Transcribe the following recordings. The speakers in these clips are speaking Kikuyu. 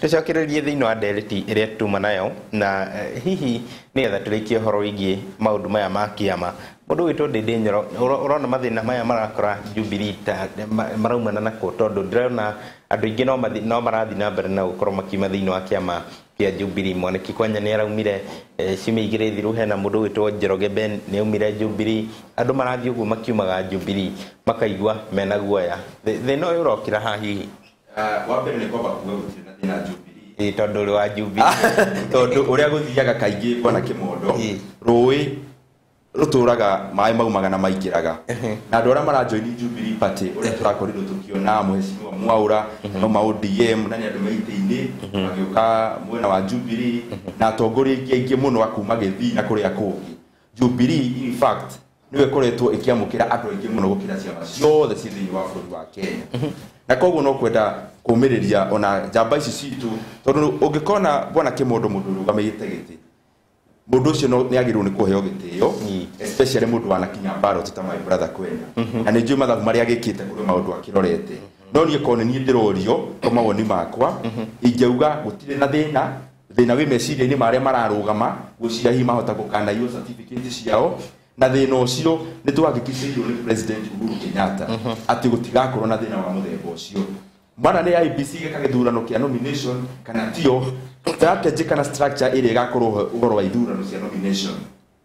tũcokererie thĩinĩ wa ndereti ĩrĩa tuma nayo na eh, hihi nĩgetha tũrĩkie ũhoro wĩgiĩ maũndũ maya ma kĩama mũndũ witũ ndĩndĩ nyoro ũro- ũrona mathĩna maya marakora jubilee ta ma- maraumana nako tondũ ndĩrona andũ aingĩ no mathi- no marathiĩ na mbere na gũkorwo makiuma thĩinĩ wa kĩama kĩa jubilee mwaniki kwanya nĩ araumire eh, ciumia igĩrĩ thiru hena mũndũ witũ njoroge ben nĩ aumire jubilee andũ marathiĩ ũguo makiumaga jubilee makaigua mena guoya Thĩ- thĩna ũyũ ũrokĩra ha hihi Ah, wa mbere nĩ kwamba kuga gũtirĩ na thĩna Jubilee Ĩ, tondũ ũrĩ wa Jubilee. tondũ ũrĩa gũthiaga kaingĩ kwana kĩmondo Ĩ. rũĩ rũtũraga maĩ maumaga na maingĩraga Ehe. na andå arä a maranjoini Jubilee Party å rä a tå rakorirwo tå kiona mheshimiwa mwaura no ma odm na nä andå maitä-inä magä å ka mwena wa Jubilee na atongoria ingä aingä må no akuma gä thii na kå rä a kå ngä Jubilee in fact nĩwe koretwo ĩkĩamũkĩra andũ aingĩ mũno gũkĩra ciama ciothe ciĩ thĩinĩ wa bũrũri wa Kenya na koguo no kwenda kũmĩrĩria ona njamba ici citũ tondũ ũngĩkona bwana Kĩmondo mũndũ ũrũgamĩte gĩtĩ mũndũ ũcio no- nĩagĩrĩirwo nĩ kũheo gĩtĩo especially mũndũ wanakinya ballot ta my brother kwenda na nĩ njũĩ mathabu marĩa agĩkĩte kũrĩ maũndũ akĩrorete no niĩ korwo nĩ niĩ ndĩrorio kwa mawoni makwa ingĩauga gũtirĩ na thĩna thĩna wĩ meciria-inĩ ma arĩa mararũgama gwĩciria hihi mahota gũkanaiywo certificate ciao na thĩna ũcio nĩ twahakikicĩirwo nĩ president Uhuru Kenyatta atĩ gũtigakorwo na thĩna wa mũthemba ũcio mana nĩ IBC ĩgeka gĩthurano kĩa nomination kana tio strategy kana structure ĩrĩa ĩgakorwo ho ũhoro wa ithurano cia nomination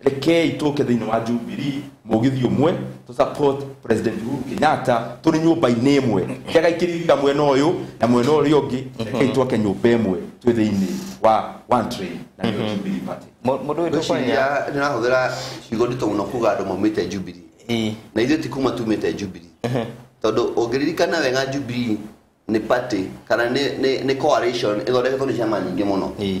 rekei tũke thĩinĩ wa Jubilee mũgithi ũmwe tũ support president Uhuru Kenyatta tũrĩ nyũmba-inĩ ĩmwe njagai kĩririka mwena ũyũ na mwena ũrĩa ũngĩ rekei twake nyũmba ĩmwe twĩ thĩinĩ wa one train na nĩyo Jubilee party Mũ- mũndũ witũ kwanya Ngwĩciria nĩ ũrahũthĩra ciugo nditũ mũno kuga andũ maumĩte Jubilee Ĩĩ. na ithuĩ ti kuma tumĩte Jubilee tondũ ũngĩririkana wega Jubilee nĩ party kana nĩ- nĩ nĩ coalition ĩthondeketwo nĩ ciama nyingĩ mũno Ĩĩ.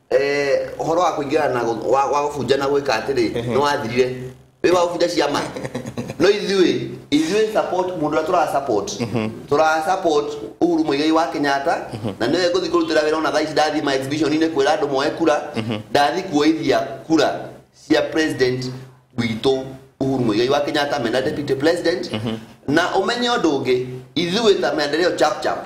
eh, ũhoro wa kũingĩrana na gũ- wa wa gũbunja na gwĩka atĩrĩ nĩ wathirire wĩ wa gũbunja ciama no ithuĩ ithuĩ support mũndũ ũrĩa tũra support tũra support Uhuru Muigai wa Kenyatta na nĩwe ngũthi kũrutĩra wĩra ona thaa ici ndathi ma exhibition inĩ kwĩra andũ moe kura ndathi kuoithia kura cia president witũ Uhuru Muigai wa Kenyatta mena deputy president na ũmenye ũndũ ũngĩ ithuĩ ta maendeleo chap chap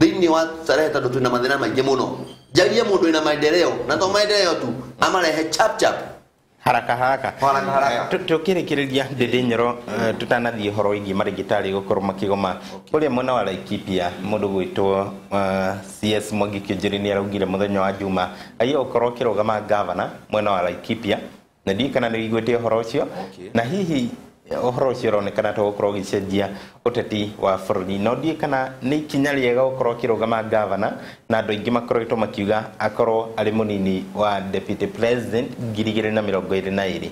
thĩinĩ wa starehe tondũ twĩna mathĩna maingĩ mũno njarie mũndũ wĩna maendeleo na to maendeleo tu amarehe chap chap haraka haraka Haraka, haraka. Eh, tu- tukĩrĩkĩrĩria ndĩndĩ nyoro eh, tũtanathiĩ ũhoro wĩgiĩ marĩgĩtarĩ gũkorwo makĩgoma kũrĩa mwena wa laikipia mũndũ gwĩtwo eh, cs mwangi kĩnjĩrĩ nĩ araugire mũthenya wa juma aia gũkorwo ũkĩrũgama ngavana mwena wa laikipia na ndiĩ kana nä wiguä te å horo å cio na hihi å horo å cio ũronekana ta gũkorwo ũgĩcenjia ũteti wa bå rå ri no ndiä kana nä ikinya rä ega gũkorwo kä rå gama ngavana na andå aingä makoretwo makiuga akorwo arä må nini wa deputy president ngiri igä rä na mä rongo ä rä na ä rä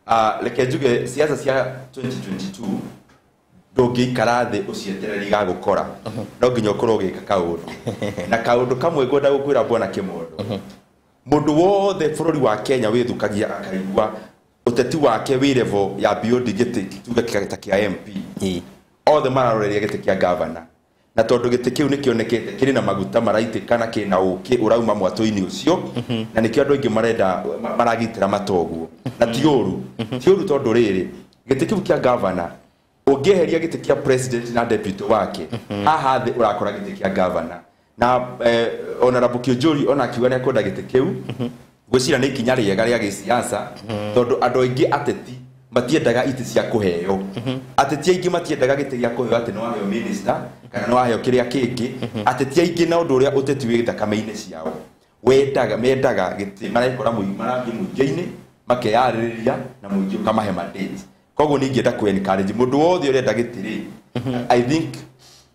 Ah, reke njuge siasa cia 2022 ndũngĩikara thĩ ũcietereri ga gũkora no nginya ũkorwo ũgĩka kaũndũ na kaũndũ kamwe ngwenda gũkwĩra bwana kĩmondo Mũndũ wothe bũrũri wa Kenya wĩthũkagia akaigua ũteti wake wĩ level ya beyond gĩtĩ tuge kĩa- ta kĩa MP. Ĩ. Othe mararoreria gĩtĩ kĩa gavana. Na tondũ gĩtĩ kĩu nĩ kĩonekete kĩrĩ na maguta maraitĩka na kĩrĩ na ũkĩ ũrauma mwatũ-inĩ ũcio, na nĩkĩo andũ aingĩ marenda ma- maragitĩra mata ũguo. Na ti ũru. Ti ũru tondũ rĩrĩ, gĩtĩ kĩu kĩa gavana ũngĩeheria gĩtĩ kĩa president na deputy wake haha thĩ ũrakora gĩtĩ kĩa governor na eh, honorable kĩũnjũri ona akiuga nĩ akwenda gĩtĩ kĩu gwĩcira nĩ ikinya rĩega rĩa gĩsiasa tondũ andũ aingĩ ateti matiendaga itĩ cia kũheo ateti aingĩ matiendaga gĩtĩ gĩa kũheo atĩ nĩ waheo minister kana nĩ waheo kĩrĩa kĩngĩ ateti aingĩ na ũndũ ũrĩa ũteti wĩ thakame-inĩ ciao wendaga mendaga gĩtĩ marekora mũingĩ marathiĩ mũingĩ-inĩ makeyarĩrĩria na mũingĩ ũkamahe mandate koguo nĩ ingĩenda kũ encourage mũndũ wothe ũrenda gĩtĩ rĩ i think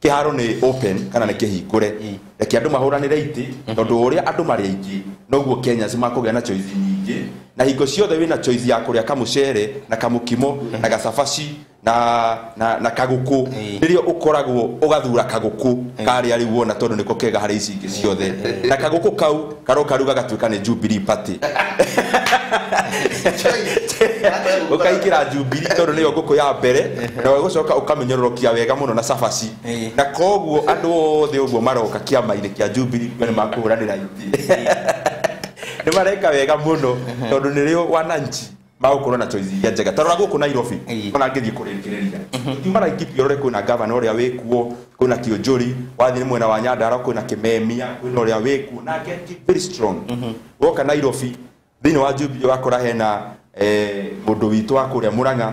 kĩharo nĩ open kana nĩ kĩhingũre reke andũ mahũranĩre itĩ tondũ o ũrĩa andũ marĩ aingĩ noguo kenyans makũgĩa na choice nyingĩ na hingo ciothe wĩna choice ya kũrĩa kamũcere na kamũkimo na gacabaci na, na, na kagũkũ rĩrĩa ũkoragwo ũgathura kagũkũ karĩa rĩu wona tondũ nĩko kega harĩ ici ingĩ ciothe na kagũkũ kau Karũ karu gagatuĩka nĩ Jubilee Party. Ũkaingĩra Jubilee tondũ nĩyo ngũkũ ya mbere na ũgũcoka ũkamĩnyororokia wega mũno na cabaci. Eh. Na koguo andũ othe ũguo maroka kĩama-inĩ kĩa Jubilee kuga nĩ makũhũranĩra iti. Nĩ mareka wega mũno tondũ nĩrĩo wananchi magũkorwo na choice iria njega tarora gũkũ nairobi Ĩĩ. ona ngĩthiĩ kũrĩkĩrĩria tiuma laikipia ũrore kwĩna gavana ũrĩa wĩkuo kwĩna kĩonjori wathiĩ mwena wa nyandara kwĩna kĩmemia kwĩna ũrĩa wĩkuo na get keep very strong woka nairobi thĩinĩ wa jubilee wakora hena eh, mũndũ witũ wa kũrĩa mũrang'a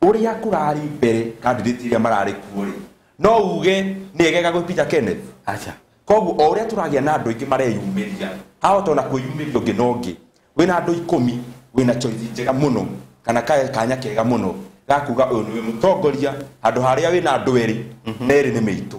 Ũrĩa kũrarĩ mbere kandidati ĩrĩa mararĩ kuo-rĩ, no uge nĩ egega gwĩ Peter Kenneth? Aca. Koguo o ũrĩa tũragĩa na andũ aingĩ mareyumĩria, hahota o na kwĩyumĩria ũngĩ na ũngĩ. Wĩ na andũ ikũmi, wĩ na choice njega mũno, kana kanya kega mũno ga kuga ũyũ nĩwe mũtongoria, handũ ha harĩa wĩ na andũ erĩ, na erĩ nĩ mĩitũ.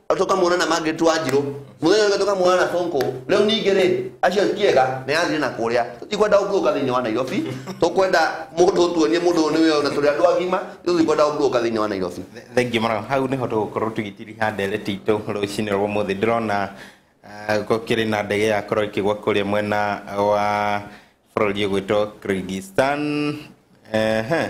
tukamuona na mangä twanjirå må thenya å tukamuona na sonko rä u ningä rä acio kiega nä yathire na kå rä a tå tikwenda å mburå ka thä inä wa nairobi tå kwenda må ndå tuonie må ndå nä wä ona tå rä andå agima tå tikwenda å mburå ka thä inä wa nairobi thengiå mũno hau nĩho tũgũkorwo tũgĩtiriha ndereti itũ rũcinĩ rwa mũthĩ ndĩrona ah, gũkĩrĩ na ndege yakorwo ĩkĩgwa kũrĩa mwena wa bũrũri ũgwĩtwo kyrgyzstan Ehe.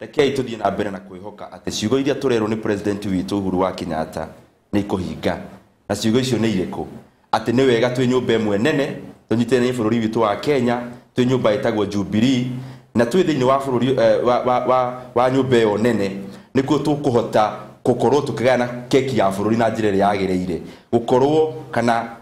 Rekei tũthiĩ na mbere na kwĩhoka atĩ ciugo iria tũrerwo nĩ President witũ Uhuru wa Kenyatta nĩ ikũhinga. Na ciugo icio nĩ irĩkũ? Atĩ nĩ wega twĩ nyũmba ĩmwe nene, tũnyitithanĩrie bũrũri witũ wa Kenya, twĩ nyũmba ĩtagwo Jubilee, na twĩ thĩinĩ wa bũrũri eh, wa, wa, wa, wa nyũmba ĩyo nene, nĩkuo tũkũhota gũkorwo tũkĩgayana keki ya bũrũri na njĩra ĩrĩa yagĩrĩire, gũkorwo kana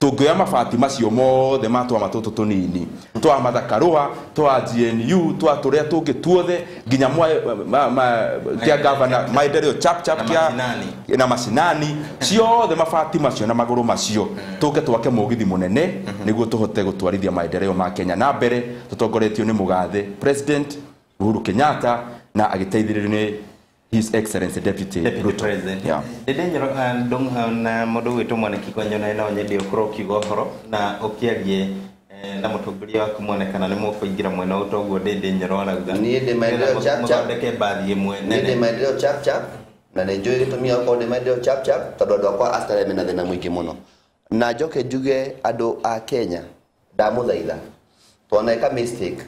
Tũngĩoya mabati macio mothe ma tũama tũtũ tũnini, twa Martha Karũa, twa GNU, twa tũrĩa tũngĩ tuothe, nginya mwa, ma, ma, kĩa ngavana Maendeleo chap chap Na kĩa macinani. na macinani ciothe mabati macio na magũrũ macio tũke twake mũgithi mũnene nĩguo tũhote gũtwarithia maendeleo ma Kenya na mbere tũtongoretio nĩ mũgathe president Uhuru Kenyatta na agĩteithĩrĩrio nĩ His Excellency Deputy, Deputy Ruto. President. Yeah. Ĩndĩ nyoro ah, ndũm- ah, na mũndũ gwĩtwo mwanĩki kwa nyona na nyendĩ ũkorwo ũkiuga ũhoro na ũkĩarie eh, na mũtongoria waku mwonekana nĩ mũkũingĩra mwena ũyũ toguo ndĩndĩ nyoro arauga Niĩ ndĩ maendeleo Nĩgetha chap chap. mũthondeke mbathi ĩmwe nĩ ndĩ nene maendeleo chap chap na nĩ njũĩ gĩtũmi gĩa gũkorwo ndĩ maendeleo chap chap tondũ andũ akwa Australia mena thĩna mũingĩ mũno na njoke njuge andũ a Kenya ndamũthaitha twaneka mistake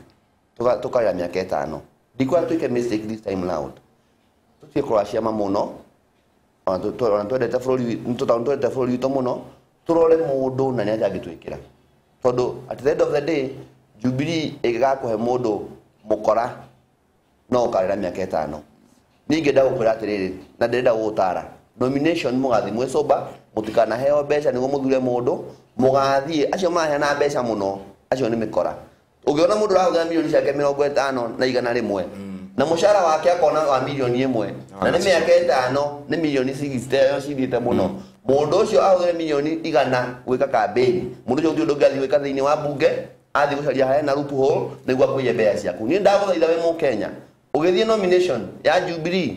Tũka- tũkaoya mĩaka ĩtano ndikwa twĩke mistake this time loud tũtige kũracia ma mũno ona tũ- tũ- ona twendete bũrũri wi- nĩ tũta- nĩ twendete bũrũri witũ mũno tũrore mũndũ na nĩaja angĩtwĩkĩra tondũ at the end of the day jubilee ĩngĩgakũhe mũndũ mũkora no ũkarĩra mĩaka ĩtano niĩ ingĩenda gũkwĩra atĩrĩrĩ na ndĩrenda gũgũtara nomination mũgathiĩ mwĩ sober mũtikanaheo mbeca nĩguo mũthure mũndũ mũgathiĩ acio maraheana mbeca mũno acio nĩ mĩkora ũngĩona mũndũ ũrahũthĩra milioni ciake mĩrongo ĩtano na igana rĩmwe na mũcara wake akona wa milioni ĩmwe na nĩ mĩaka ĩtano nĩ milioni cigiciteyo cithiĩte mũno mũndũ ũcio ahũthĩre milioni igana gwĩka kambĩni mũndũ ũcio ũngĩ ndũngĩathiĩ gwĩka thĩinĩ wa mbunge athiĩ gũcaria harĩa na rupu hole nĩguo akũiye mbeca ciaku niĩ ndagũthaitha wĩ mũkenya ũgĩthiĩ nomination ya Jubilee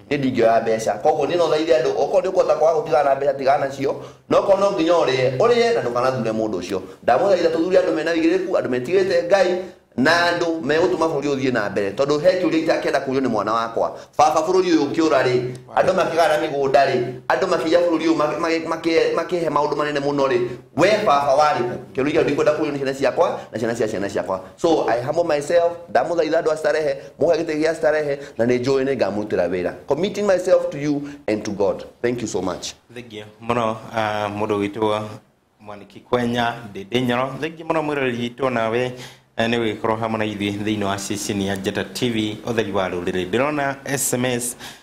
niĩ ndingĩoya mbeca koguo niĩ no thaithe andũ okorwo nĩ ũkũhota kwaga gũtigana na mbeca tigana nacio na okorwo no nginya ũrĩe ũrĩe na ndũkanathure mũndũ ũcio ndamũthaitha tũthure andũ mena ũigĩrĩrĩku andũ metigĩrĩte ngai na andũ megũtũma bũrũri ũyũ ũthiĩ na mbere tondũ he kĩũria itakĩenda kũrio nĩ mwana wakwa baba bũrũri ũyũ ũkĩũra rĩ andũ makĩgana mĩgũnda rĩ andũ makĩiya bũrũri ũyũ ma- ma- makĩ- makĩhe maũndũ manene mũno rĩ we baba warĩ kũ kĩũria kĩu ndikwenda kũrio nĩ ciana ciakwa na ciana cia ciana ciakwa so i humble myself ndamũthaitha andũ a starehe mũhe gĩtĩ gĩa starehe na nĩ njũĩ nĩ ngamũrutĩra wĩra committing myself to you and to god thank you so much thengiũ mũno ah, mũndũ witũ mwaniki kwenya ndĩndĩ nyoro thengiũ mũno mwĩroreri witũ nawe eh, nĩ ũgĩkorwo hamwe na ithuĩ thĩinĩ wa ceceni ya njata tv ũtheri wa rũrĩrĩ ndĩrona sms